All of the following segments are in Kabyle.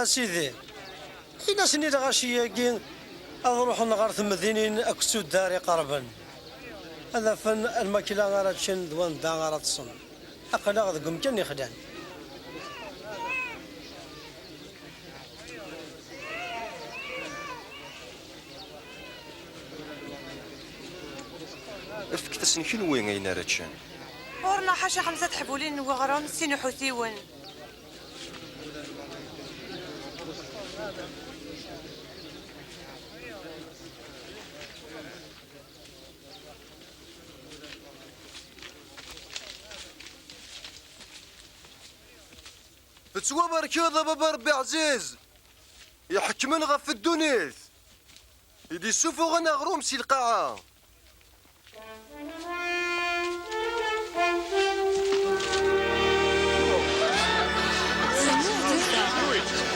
Asidi, in-asen i lɣaci-agi ad ruḥen ɣer temdinin akked tuddar iqerben, ad afen lmakla ara ččen d wanda ara ṭṭsen. Aql-aɣ deg umkan yexlan. Fket-asen kenwi ayen ara ččen. Ɣur-neɣ ḥaca xemsa teḥbulin n weɣrum, sin uḥutiwen. Tettwabarkeḍ a baba Rebbi ɛziz iḥekmen ɣef ddunit i d-isufuɣen aɣrum si lqaɛa.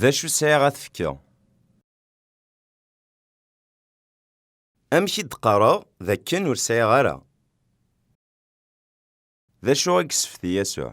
D acu sɛiɣ ad t-fkeɣ? Amek i d-qqareɣ d akken ur sɛiɣ ara? D acu i yessefti Yasuɛ?